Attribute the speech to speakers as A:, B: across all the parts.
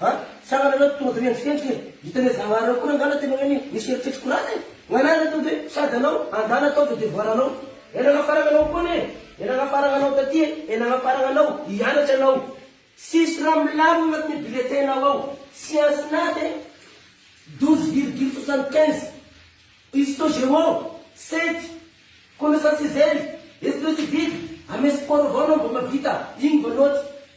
A: Ha? Tsara nareo tonga de miantsikentjika e! Hitan'ireo zagnahary ireo koa reo ngala tena hoe ny misy eritreritra korana e! Nganahy nareo de sady anao andala atao de devoir anao e nagnafaragna anao koa anie e nagnafaragna anao taty e e nagnafaragna anao hianatra anao tsisy raha milamina agnatin'ny bulletin nao ao science nat e douze virgule soixante quinze histo géo sept connaissance zero esprit civil amy sport avao anao mba mahavita igny mba note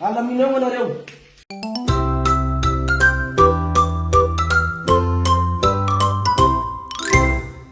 A: Alamino eo anareo.